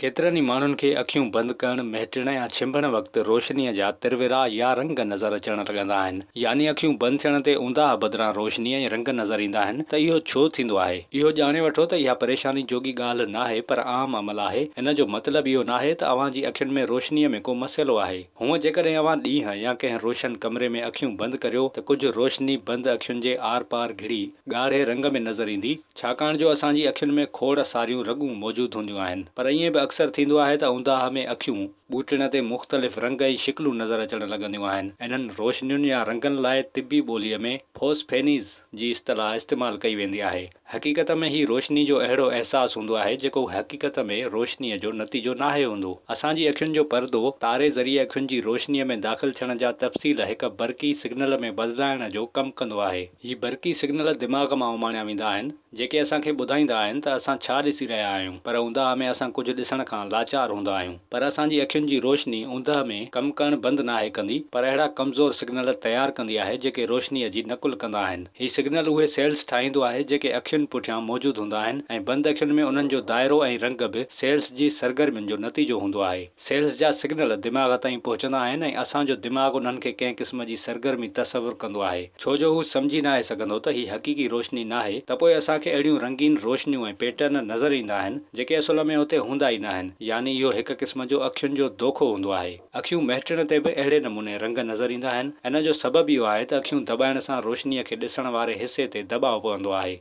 ڪيترن ئي ماڻهن کي اکيون بند ڪرڻ، مهٽڻ يا ڇنڀڻ وقت روشنيء جا ترورا يا رنگ نظر اچڻ لڳندا آهن. يعني اکيون بند ٿيڻ تي اونداهه بدران روشني ۽ رنگ نظر ايندا آهن ته اهو ڇو ٿيندو آهي؟ اهو ڄاڻي وٺو ته اها پريشاني جوڳي ڳالهه ناهي پر عام عمل آهي. ان جو مطلب اهو ناهي ته اوهان جي اکين ۾ روشنيء ۾ ڪو مسئلو آهي. هونء جيڪڏهن اوهان ڏينهن يا ڪنهن روشن ڪمري ۾ اکيون بند ڪريو ته ڪجهه روشني بند اکين جي آر پار گهڙي ڳاڙهي رنگ ۾ نظر ايندي. ڇاڪاڻ جو اسان جي اکين ۾ کوڙ ساريون رڳون موجود هونديون آهن پر ائين به اڪثر ٿيندو آهي ته اونداهه ۾ اکيون ٻوٽڻ تي مختلف رنگ ۽ شڪلون نظر اچڻ لڳنديون آهن انهن روشنين يا رنگن لاء طبي ٻوليء ۾ فوسفينيز جي اصطلاح استعمال ڪئي ويندي آهي حقيقت ۾ هي روشني جو اهڙو احساس هوندو آهي جيڪو حقيقت ۾ روشني جو نتيجو ناهي هوندو اسان جي اکين جو پردو تاري ذريعي اکين جي روشني ۾ داخل ٿيڻ جا تفصيل هڪ برقي سگنل ۾ بدلائڻ جو ڪم ڪندو آهي. هي برقي سگنل دماغ مان اماڻيا ويندا آهن، جيڪي اسان کي ٻڌائيندا آهن ته اسان ڇا ڏسي رهيا آهيون، پر اونداهه ۾ اسان ڪجهه ڏسڻ کان لاچار هوندا آهيون، پر اسان جي اکين جي روشني اوندهه ۾ ڪم ڪرڻ بند ناهي ڪندي، پر اهڙا ڪمزور سگنل تيار ڪندي آهي جيڪي روشنيء جي نقل ڪندا آهن. هي سگنل اهي سيلز ٺاهيندو آهي جيڪي اکين پٺيان موجود هوندا آهن ۽ بند اکين ۾ انهن جو دائرو ۽ رنگ به سيلز جي سرگرمين جو نتيجو هوندو آهي. سيلز جا سگنل دماغ تائين پهچندا آهن ۽ اسان جو دماغ انهن کي ڪنهن قسم جي سرگرمي تصور ڪندو آهي ڇو جو هو سمجهي ناهي سگهندو ته هي حقيقي روشني ناهي ته پوء اسان کي اهڙيون رنگين روشنيون ۽ پيٽرن نظر ايندا آهن جيڪي اصل ۾ اتي هوندا ئي ناهن يعني اهو هڪ قسم جو اکين جو دوکو هوندو آهي اکيون مهٽڻ تي به اهڙي نموني رنگ نظر ايندا آهن ان جو سبب اهو آهي ته اکيون دٻائڻ سان روشني کي ڏسڻ واري حصي تي دٻاء پوندو آهي.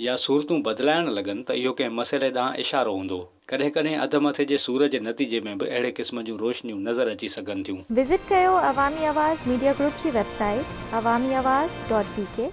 يا صورتون بدلائڻ لڳن ته اهو ڪنهن مسئلي ڏانهن اشارو هوندو. ڪڏهن ڪڏهن اڌ مٿي جي سور جي نتيجي ۾ به اهڙي قسم جون روشنيون نظر اچي سگهن ٿيون. وزٽ ڪيو عوامي آواز ميڊيا گروپ جي website Awami Awaz dot بي ڪي.